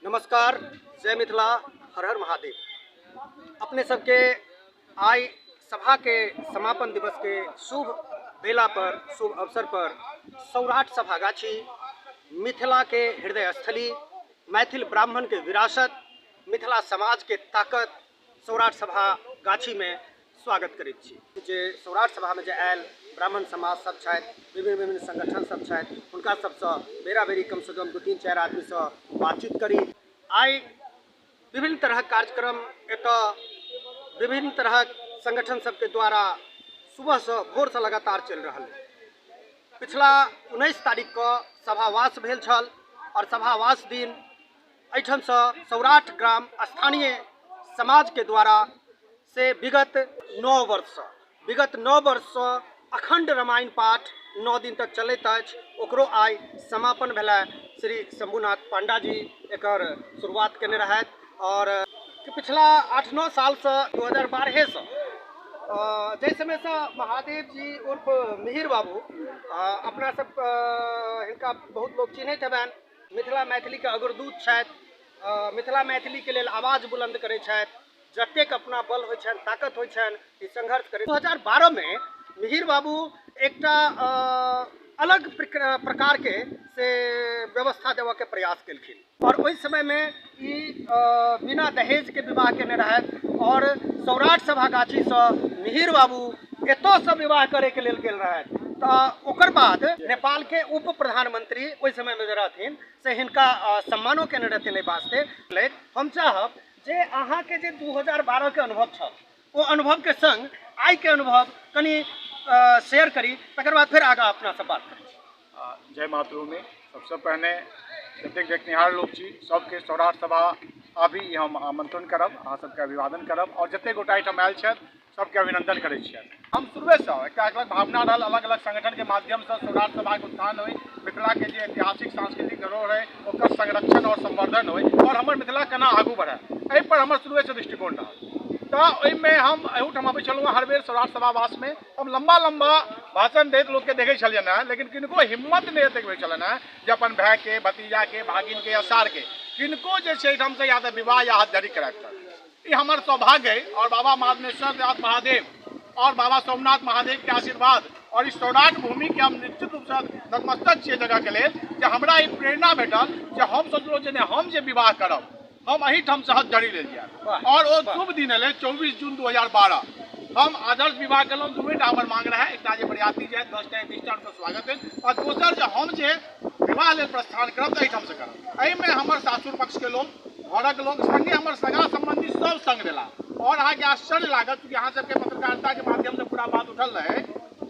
नमस्कार जय मिथिला हर हर महादेव अपने सबके आइ सभा के समापन दिवस के शुभ बेला पर शुभ अवसर पर सौराठ सभागाछी मिथिला के हृदय स्थली मैथिल ब्राह्मण के विरासत मिथिला समाज के ताकत सौराठ सभा गाछीमे स्वागत करैत छी जे सौराठ सभामे जे आयल ब्राह्मण समाज सब छथि विभिन्न विभिन्न संगठन सब छथि हुनका सबसँ बेरा बेरी कमसँ कम दू तीन चारि आदमीसँ बातचीत करी आइ विभिन्न तरहक कार्यक्रम एतऽ विभिन्न तरहक संगठन सबके द्वारा सुबहसँ भोरसँ लगातार चलि रहल अछि पिछला उन्नैस तारीखके सभावास भेल छल आओर सभावास दिन एहिठामसँ सौराठ ग्राम स्थानीय समाजके द्वारा से विगत नओ वर्षसँ विगत नओ वर्षसँ अखण्ड रामायण पाठ नओ दिन तक चलैत अछि ओकरो आइ समापन भेलै श्री शम्भुनाथ पांडा जी एकर शुरुआत केने रहथि आओर पिछला आठ नओ सालसँ दू हजार बारहेसँ जाहि समयसँ महादेव जी उर्फ मिहिर बाबू अपना सब हिनका बहुत लोक चिन्हैत हेबनि मिथिला मैथिलीके अग्रदूत छथि मिथिला मैथिलीके लेल आवाज बुलन्द करै छथि जतेक अपना बल होइ छनि ताकत होइ छनि ई संघर्ष करै दू हजार बारहमे मिहिर बाबू एकटा अलग प्रकारके से व्यवस्था देबऽके प्रयास केलखिन आओर ओहि समयमे ई बिना दहेजके विवाह केने रहथि आओर सौराठ सभा गाछीसँ मिहिर बाबू एतयसँ विवाह करैके लेल गेल रहथि तऽ ओकर बाद नेपालके उप प्रधानमंत्री ओहि समयमे जे रहथिन से हिनका सम्मानो केने रहथिन एहि वास्ते हम चाहब जे अहाँके जे दू हजार बारहके अनुभव छल ओ अनुभवके सङ्ग आइके अनुभव कनि शेयर करी तकर बाद फेर आगाँ अपनासँ बात करी जय मातृभूमि सबसँ पहिने जतेक देखनिहार लोक छी सबके सौराठ सभा आबी हम आमंत्रण करब अहाँ सबके अभिवादन करब आओर जतेक गोटा एहिठाम आयल छथि सबके अभिनंदन करै छियनि हम शुरुएसँ एकटा अलग भावना रहल अलग अलग संगठनके माध्यमसँ सौराठ सभाके उत्थान होइ मिथिलाके जे ऐतिहासिक सांस्कृतिक धरोहर है ओकर संरक्षण और संवर्धन हो और हमर मिथिला केना आगू बढ़े एहि पर हमर शुरू से दृष्टिकोण रहल तो ओहिमे हम एहूठाम अबै छलहुँ हर बेर सौराठ सभावासमे हम लम्बा लम्बा भाषण दैत लोकके देखै छलियनि हेँ लेकिन किनको हिम्मत नहि एतेक होइ छलनि हेँ जे अपन भायके भतीजाके भागिनके या सारके किनको जे छै एहिठामसँ या तऽ विवाह या हाथ झड़ी कराबि ई हमर सौभाग्य है और बाबा माधवेश्वर नाथ महादेव और बाबा सोमनाथ महादेव के आशीर्वाद और इस सौराठ भूमि के हम निश्चित रूप से नतमस्तक छियै जगह के लेल जे हमरा ई प्रेरणा भेटल जे हम सोचलहुँ जे नहि हम जे विवाह करब हम अहिठाम से हथ जड़ी लेल जायब और ओ शुभ दिन एलै चौबीस जून दू हजार बारह हम आदर्श विवाह केलहुँ दूएटा हमर मांग रहै एकटा जे बरियाती जाय दस टा बीस टा हुनकर स्वागत भेल और दोसर जे हम जे विवाह लेल प्रस्थान करब तऽ एहिठामसँ करब एहिमे हमर सासुर पक्षके लोक घरक लोक सङ्गे हमर सगा सम्बन्धी सभ सङ्ग भेला आओर अहाँके आश्चर्य लागत कि अहाँ सभके पत्रकारिताके माध्यमसँ पूरा बात उठल रहै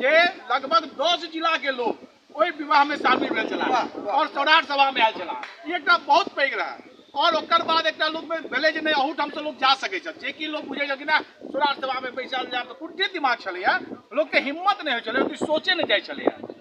जे लगभग दस जिलाके लोक ओहि विवाहमे शामिल भेल छला आओर सौराठ सभामे आयल छला ई एकटा बहुत पैघ रहै आओर ओकर बाद एकटा लोकमे भेलै जे नहि अहूठामसँ लोक जा सकै छथि जे कि लोक बुझै छल कि नहि सौराठ सभामे बैसल जायब तऽ कुर्ती दिमाग छलैए लोकके हिम्मत नहि होइ छलै सोचे नहि जाइ छलैए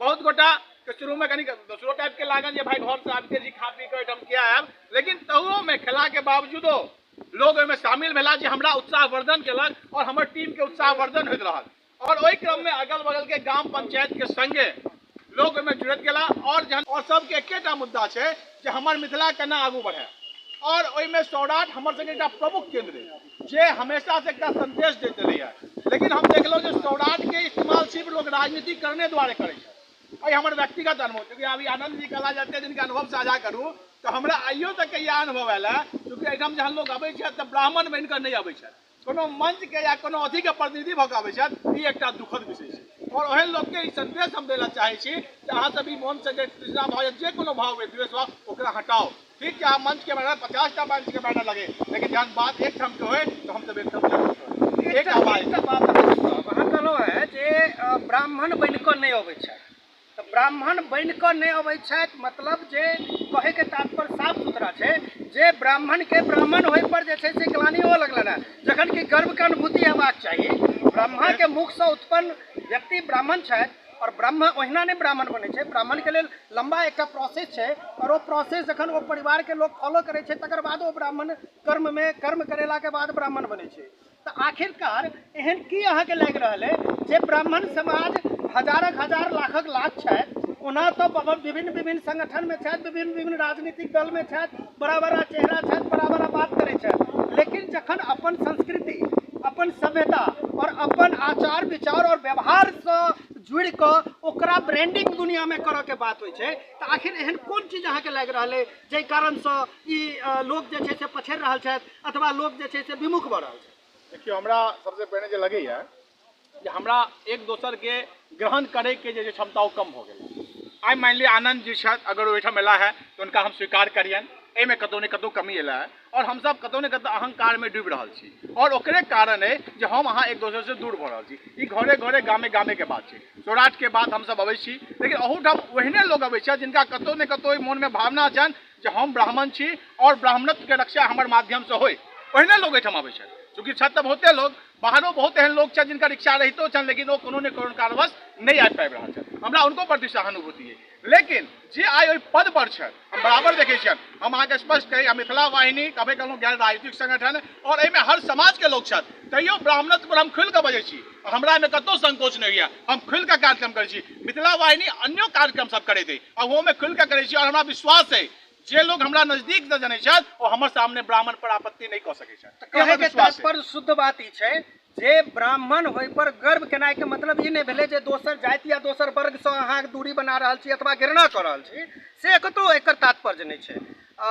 बहुत गोटा के शुरू में कनी दोसरो टाइप के लागल जे भाई घर से आबिते जी खा पी के एहिठाम किया आयल लेकिन तहुओ में खेला के बावजूदो लोग ओहिमे शामिल भेला जे हमरा उत्साहवर्धन केलक और हमर टीम के उत्साहवर्धन होइत रहल और ओहि क्रम में अगल बगल के ग्राम पंचायत के संगे लोग ओहिमे जुड़ैत गेला और जहन और सबके एकेटा मुद्दा छै जे हमर मिथिला केना आगू बढ़े और ओहिमे सौराठ हमर सबके एकटा प्रमुख केंद्र है जे हमेशा से एकटा संदेश देते रही है लेकिन हम देखलो जे सौराठ के इस्तेमाल सिर्फ लोग राजनीति करने द्वारे करे छै अइ हमर व्यक्तिगत अनुभव क्योंकि अभी आनंद जी कला जते दिन के अनुभव साझा करू तऽ हमरा आइयो तक के इएह अनुभव आयल है क्योंकि एहिठाम जहन लोग अबै छै तऽ ब्राह्मण बनि कऽ नहि अबै छै कोनो मंच के या कोनो अथी के प्रतिनिधि भऽ कऽ अबै छथि ई एकटा दुखद विषय छै और ओहन लोक के ई संदेश हम देला चाहे छी कि अहाँ सब ई मन से जे तृष्णा भाव जे कोनो भाव हुए द्वेष भाव ओकरा हटाओ ठीक छै अहाँ मंच के बैनर पचास टा मंच के बैनर लगे लेकिन जहन बात एक ठाम के होय तो हम सब एक ठाम एक आवाज अहाँ कहलहुँ है जे ब्राह्मण बनि कऽ नहि अबै छै तऽ ब्राह्मण बनि कऽ नहि अबै छथि मतलब जे कहैके तात्पर्य साफ सुथरा छै जे ब्राह्मणके ब्राह्मण होइपर जे छै से ग्लानी होबऽ लगलनि हेँ जखन कि गर्वके अनुभूति हेबाक चाही ब्रह्माके मुखसँ उत्पन्न व्यक्ति ब्राह्मण छथि आओर ब्रह्म ओहिना नहि ब्राह्मण बनै छै ब्राह्मणके लेल लम्बा एकटा प्रोसेस छै आओर ओ प्रोसेस जखन ओ परिवारके लोक फॉलो करै छै तकर बादो ब्राह्मण कर्ममे कर्म करेलाके बाद ब्राह्मण बनै छै तऽ आखिरकार एहन की अहाँके लागि रहल अइ जे ब्राह्मण समाज हजारक हजार लाखक लाख छथि ओना तऽ बहुत विभिन्न विभिन्न संगठनमे छथि विभिन्न विभिन्न राजनीतिक दलमे छथि बड़ा बड़ा चेहरा छथि बड़ा बड़ा बात करै छथि लेकिन जखन अपन संस्कृति अपन सभ्यता आओर अपन आचार विचार आओर व्यवहारसँ जुड़ि कऽ ओकरा ब्रांडिंग दुनियामे करऽके बात होइ छै तऽ आखिर एहन कोन चीज अहाँके लागि रहल अइ जाहि कारणसँ ई अ, लोक जे छै से पछड़ि रहल छथि अथवा लोक जे छै से विमुख भऽ रहल छै देखियौ हमरा सबसँ पहिने जे लगैए जे हमरा एक दोसरके ग्रहण करैके जे क्षमता ओ कम भऽ गेल आइ मानि लिअ आनन्द जी छथि अगर ओहिठाम एला है तऽ हुनका हम स्वीकार करियनि एहिमे कतहु ने कतहु कमी एला है आओर हमसभ कतहु ने कतहु अहंकारमे डूबि रहल छी आओर ओकरे कारण अइ जे हम अहाँ एक दोसरसँ दूर भऽ रहल छी ई घरे घरे गामे गामेके बात छै सौराठके बात हमसभ अबै छी लेकिन अहूठाम ओहने लोक अबै छथि जिनका कतहु ने कतहु मोनमे भावना छनि जे हम ब्राह्मण छी और ब्राह्मणत्व के रक्षा हमर माध्यम से होय ओहिने लोग एहिठाम आबै छै चूँकि छत तऽ बहुते लोग बाहरो बहुत एहन लोग छै जिनकर इच्छा रहितो छनि लेकिन ओ कोनो ने कोनो कारणवश नहि आबि पाबि रहल छथि हमरा हुनको प्रति सहानुभूति अइ लेकिन जे आइ ओहि पद पर छथि हम बराबर देखै छियनि हम अहाँके स्पष्ट कही हम मिथिला वाहिनी कभी कहलहुँ गैर राजनीतिक संगठन और एहिमे हर समाज के लोग छथि तैयो ब्राह्मणत्व पर हम खुलि कऽ बजै छी हमरा एहिमे कतौ संकोच नहि होइया हम खुलि कऽ कार्यक्रम करै छी मिथिला वाहिनी अन्यो कार्यक्रम सब करैत अछि आ ओहोमे खुलि कऽ करै छी आओर हमरा विश्वास अछि जे लोग हमरा नजदीक से जनै छथि ओ हमर सामने ब्राह्मण पर आपत्ति नहि कऽ सकै छथि ई हमर कहैके विश्वास अछि। तात्पर्य शुद्ध बात ई छै जे ब्राह्मण होय पर गर्व केनाइ के मतलब ई नहि भेलै जे दोसर जाति या दोसर वर्ग सँ अहाँ दूरी बना रहल छी अथवा घृणा कऽ रहल छी से कतौ एकर तात्पर्य नहि छै आ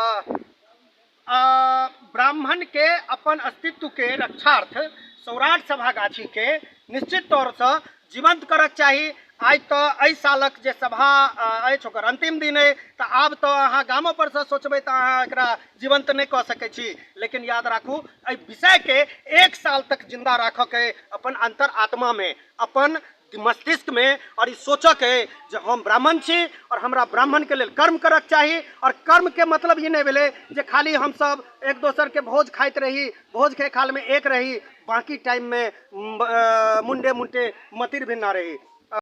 ब्राह्मणके अपन अस्तित्वके रक्षार्थ सौराठ सभागाछीके निश्चित तौरसँ जीवंत करक चाही आइ तऽ एहि सालक जे सभा अछि ओकर अन्तिम दिन अइ तऽ आब तऽ अहाँ गामो परसँ सोचबै तऽ अहाँ एकरा जीवंत नहि कऽ सकै छी लेकिन याद राखू एहि विषयके एक साल तक जिन्दा राखऽके अपन अन्तर आत्मामे अपन मस्तिष्क में और ई सोचऽ के जे हम ब्राह्मण छी और हमरा ब्राह्मण के लेल कर्म करऽ के चाही और कर्म के मतलब ई नहीं भेलै जे खाली हम सब एक दोसर के भोज खाइत रही भोज के खाल में एक रही बाकी टाइम में म, अ, मुंडे मुंडे मतिर भिन्ना रही